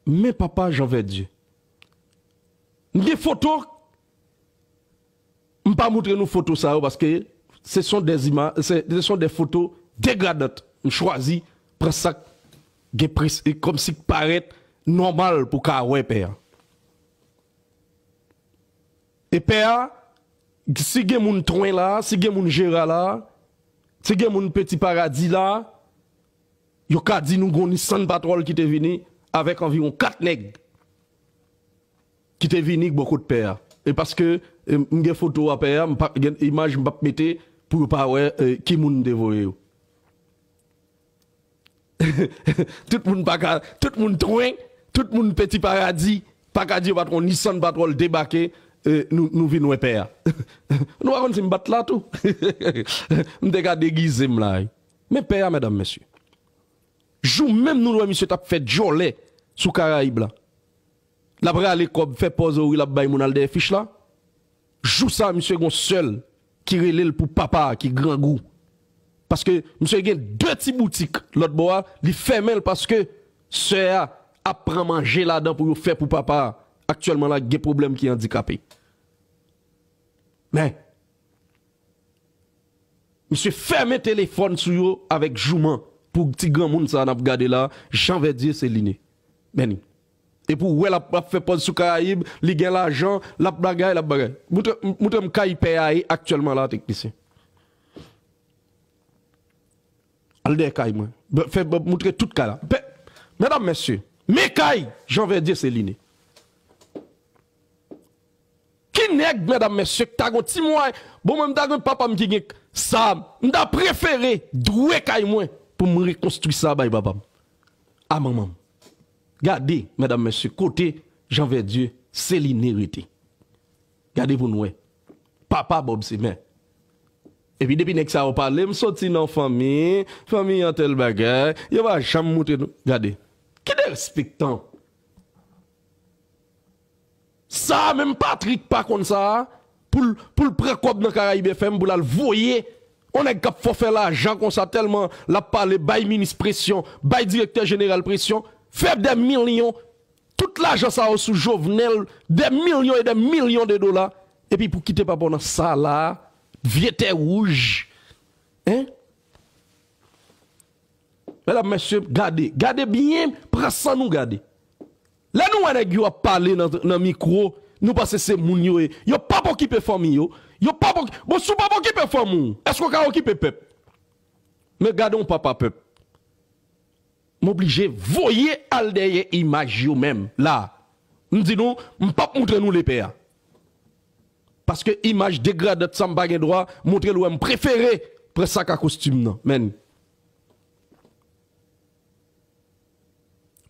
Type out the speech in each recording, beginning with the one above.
Men papa jean vèdye. M gen foto m pa moutre nou foto sa yo paske se son des images se son des photos degradantes m chwazi pran sak gen pres komsi k parèt nòmal pou ka wè pè a e pè a si gen moun twen la si gen moun jera la si gen moun peti paradi la. Yo ka di nou gon Nissan Patrol ki te vini avèk anviwon 4 nèg ki te vini bò kot pè a. E paske m gen foto a pè a, m pa gen imaj m pap mete pou yo pa wè ki moun m te voye yo. Tout moun pa ka, tout moun twen, tout moun peti paradi pa ka di yo pat wè yon Nissan Patrol debake nou vin wè pè a. Nou pa konn si m pat la tou. M te ka degize m la wi. Men pè a medam mesye. Jou menm nou wè misye tap fè djòlè sou karayib la. Lap rale kòb fè pòz o wi lap bay moun al dèyè fich la. Jou sa misye gon sèl ki relel pou papa ki grangou. Paske misye gen 2 ti boutik lòt bò a li fèmenl paske sè a ap pran manje ladan pou yo fè pou papa aktyèlman la gen pwoblèm ki andikape. Men. Misye fèmen telefòn sou yo avèk jouman pou ti granmoun sa nap gade la Jean Verdier Céliné Berny epi ou wè lap ap fè pòz sou karayib li gen lajan lap bagay lap bagay moutre moutre m kay pè a ye aktyèlman la teknisyen al dèyè kay mwen bè fè bè moutre tout kay la pè medam mesye men kay Jean Verdier Céliné. Ki nèg medam mesye ki ta gon ti mwayen bon mwen mta gen papam ki gen sa mta prefere dwe kay mwen poum rekonstwi sa bay papam a manmanm gade medam mesye kote jan vèdye celine rete gade poun wè papa bob se mè epi depi nèg sa yo pale msoti nan fanmi fanmi an tèl bagay yo pa janm moutre nou gade ki derespektan. Sa a menm Patrick pa konn sa a pou l pou l pran kòb nan Caraïbe FM pou l al voye on nèg k ap fò fè lajan konsa tèlman l ap pale bay minis presyon bay direktè jeneral presyon fè dè milyon tout lajan sa yo sou Jovenel dè milyon e dè milyon de dola epi pou kite papa w nan sa la a vye tè wouj en. Medam mesye gade gade byen pran san nou gade. Lè nou wè nèg yo ap pale nan mikro, nou panse se moun yo ye. Yo pap okipe fanmi yo. Yo pap ok. Bon si w pap okipe fanmi w, èske w ka okipe pèp? Men gade yon papa pèp. M oblije voye al dèyè imaj yo menm la a. M di nou, m pap moutre nou lepè a. Paske imaj degradant sa m pa gen dwa moutre l ou a. M prefere pran sak a kostim nan men.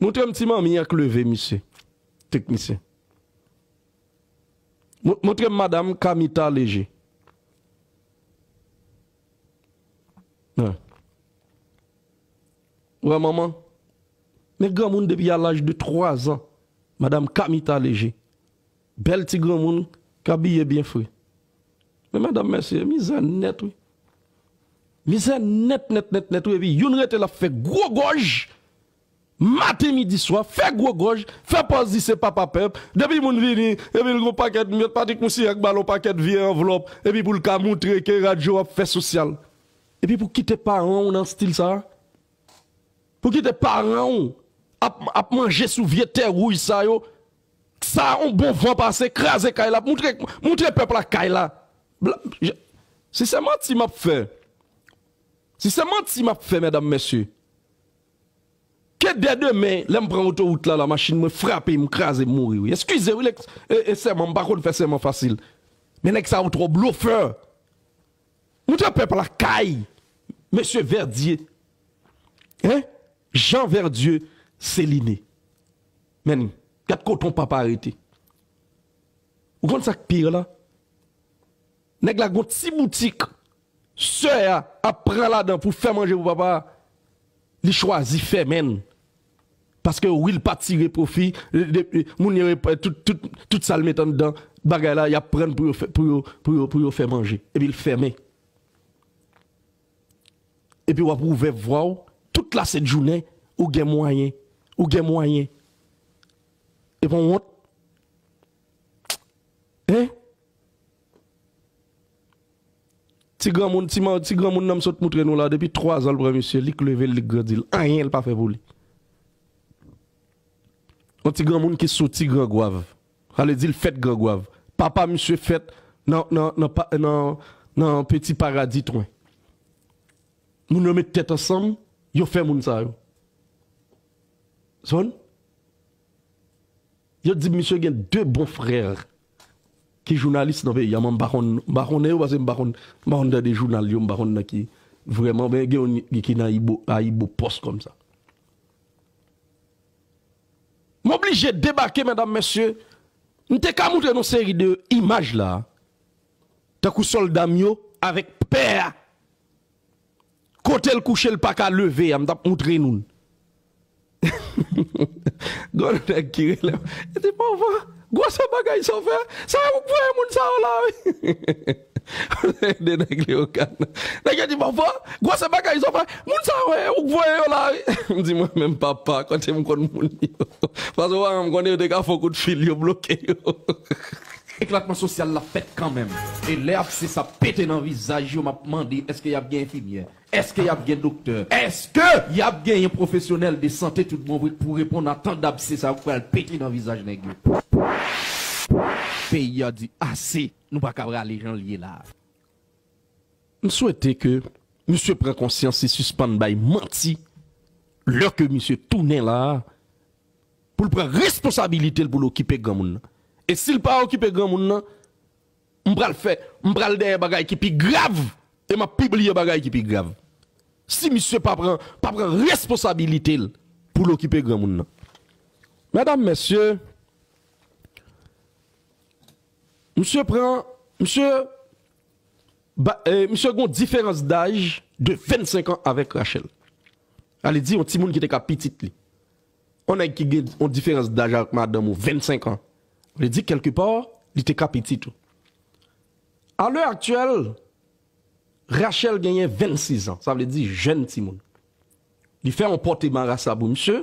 Moutrem ti manmi an k leve misye teknisyen Moutrem madam kamita leje an Ou wè manman Men granmoun depi a laj de 3 zan madam kamita leje Bèl ti granmoun k abiye byen fre. Men madam mesye mizè nèt wi. Mizè nèt nèt nèt nèt wi epi youn rete lap fè gwo gòj maten midi swa fè gwo gòj fè pòz li se papa pèp depi moun vini epil gon pakèt mèt Patrick Moussignac bal on pakèt vye anvlòp epi poul ka moutre ke radyo ap fè sosyal epi pou kite paran w nan stil sa pou kite paran w ap manje sou vye tè wouj sa yo. Sa on bon van pase kraze kay la moutre moutre pèp la kay la black si se manti map fè si se manti map fè mèdam mèsye ke dè demen lèm pran otorout la la machin mwen frape m kraze m mouri wi eskize wi lèks e sèman m pa konn fè sèman fasil men nèg sa yo trò blofè moutre pèp la kay mesye vèdye hein Jean vèdye celine. Menn, gad kote yon papa rete. Ou konn sa k pire la? Nèg la gen yon ti boutik sè a ap pran ladan pou fè manje pou papa a, li chwazi fèmen l. Paske wi l pa tire pwofi, moun yo tout sa l met anndan bagay la y ap pran pou yo fè manje. Epi l fèmen. Epi wap wouvè vwaw tout la sent jounen ou gen mwayen ou gen mwayen e pon wont hein ti granmoun ti man ti granmoun nan m sot moutre nou la depi 3 zan l pran misye li k level li k grandil anyen l pa fè pou li yon ti granmoun ki soti grangwav. Sa vle di l fèt Gran Gwav. Papa misye fèt nan Peti Paradi Twen. Moun yo met tèt ansanm, yo fè moun sa yo. Son? Yo di m misye gen 2 bon frè ki jounalis nan peyi a. Mwen m pa konn, m pa konnen yo paske m pa konn, m pa konn tande jounal yo, m pa konn nan ki vrèman. Men gen youn ki nan AyiboPost kòmsa. M oblije debake medam mesye, m te ka moutre nou seri de imaj la, tankou solda m yo avek pè a kotel kouche l paka leve a m tap moutre nou l. Gon nèg ki rele m, li di Morvan gwo sa bagay sa w fè, sa ou k voye moun sa yo la wi. 2 nèg Leogane nan. Nèg yo di bon fò, gwo se bagay zo fè. Moun sa yo e ou k voye yo la wi. M di mwen menm papa kote m konn moun yo. Paske pa m konnen yo te ka fè w kout fil yo bloke yo. Eklatman sosyal la fèt kanmenm. E lè apse sa pete nan vizaj yo m ap mande èske y ap gen enfimyè? Èske y ap gen doktè? Èske y ap genyen pwofesyonèl de sante tout bon vre k pou reponn a tan dapse sa yo k pral pete nan vizaj nèg yo? Peyi a di ase! Nou pa ka prale jan l ye la. M swete ke misye pran konsyans e sispann bay manti lè ke misye tounen la a pou l pran responsabilite l pou l okipe granmoun nan. E si l pa okipe granmoun nan, m pral fè, m pral dèyè bagay ki pi grav e m ap pibliye bagay ki pi grav. Si misye pa pran, pa pran responsabilite l pou l okipe granmoun nan. Medam, mesye. Misye pran, misye ba, misye gen yon diferans daj de 25 an avèk Rachel. Vle di yon timoun ki te ka pitit li. Yon nèg ki gen yon diferans daj avèk madanm ou 25 an, vle di kèlke pa, li te ka pitit ou. A lè aktyèl, Rachel genyen 26 an, sa vle di jèn timoun. Li fè yon pòte marasa pou misye.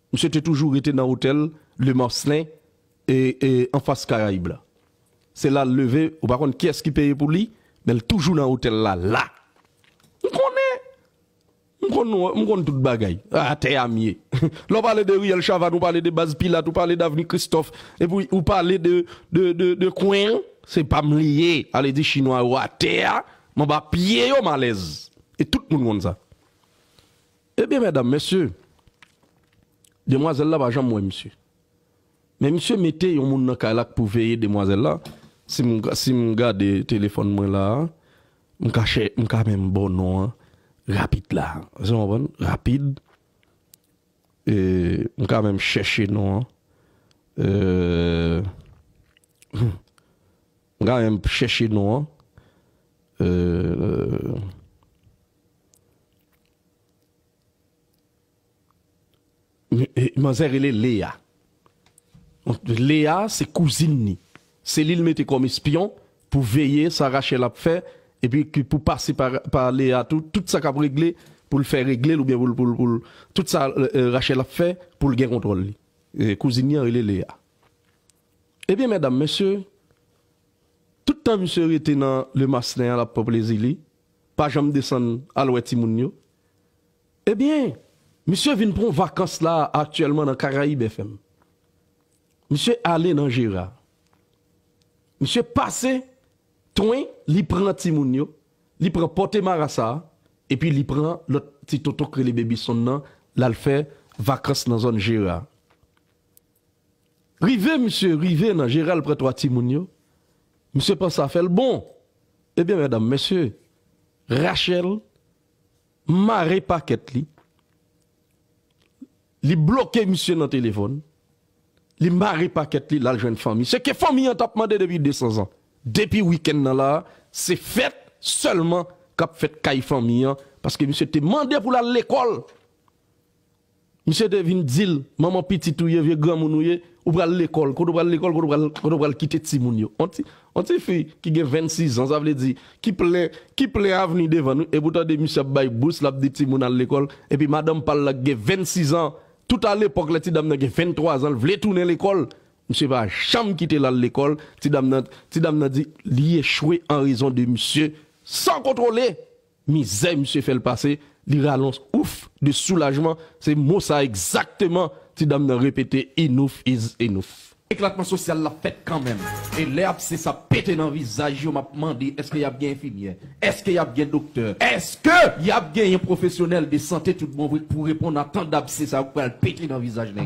Misye te toujou rete nan otèl Le Marcelin anfas Karayib la. Se la l leve, ou pa konn kiyès ki peye pou li, men l toujou nan otèl la la. M konnen! M konn nou, m konn tout bagay. Atè a m ye. Lè w pale de Riyèl Chavàn, ou pale de Baz Pilat, ou pale d'Avni Kristòf, epi ou pale de kwen an, se pa m li ye. Ale di Chinwa yo atè a, m anba pye yo m alèz. E tout moun konn sa. Ebyen mèdam mesye, demwazèl la pa janm wè misye. Men misye mete yon moun nan kay la k pou veye demwazèl la, si m gade telefòn mwen la a, m ka chè, m ka menm ba w non an rapid la a, èske w konprann, rapid, m ka menm chèche non an, eee. M ka menm p chèche non an. Manzè rele Lea. Lea se kouzin ni. Se li l mete kòm espyon pou veye sa Rachel ap fè epi ki pou pase pa Lea tou. Tout sa k ap regle pou l fè regle l oubyen pou l tout sa Rachel ap fè pou l gen kontwòl li. Kouzin ni an rele Lea. Ebyen medam mesye tout tan misye rete nan le maslen an lap pran plezi li pa janm desann al wè timoun yo ebyen misye vin pran vakans la aktyèlman nan caraïbe FM misye ale nan jera misye pase twen li pran timoun yo li pran pòte marasa epi li pran lòt ti tonton k rele baby son nan lal fè vakans nan zòn jera. Rive misye rive nan jeral pran 3 timoun yo, misye panse afèl bon, ebyen medam mesye Rachel mare pakèt li, li bloke misye nan telefòn, li mare pakèt li lal jwenn fanmi, se ke fanmi an tap mande depi 200 zan. Depi wikenn nan la se fèt sèlman kap fèt kay fanmi an, paske misye te mande pou lal lekòl. Misye te vin dil manman pitit ou ye vye granmoun ou ye ou pral lekòl kote ou pral lekòl kote ou pral kote ou pral kite timoun yo on ti on ti fi ki gen 26 ans sa vle di ki plen ki plen avni devan l wi epi ou tande misye ap bay bous lap di timoun al lekòl epi madanm pal la ki gen 26 ans tout a lepòk lè ti dam nan gen 23 ans l vle tounen lekòl misye pa janm kite l al lekòl ti dam nan ti dam nan di li echwe an rezon de misye san kontwole. Mizè misye fè l pase, li ralons ouf de soulajman, se mo sa egzakteman ti dam nan repete enouf iz enouf. Eklatman sosyal la fèt kanmenm e lè abse sa pete nan vizaj yo map mande eske yap gen enfimyè? Eske yap gen doktè? Eske yap genyen pwofesyonèl de sante tout bon vre k pou reponn a tan dabse sa yo k pral pete nan vizaj nèg?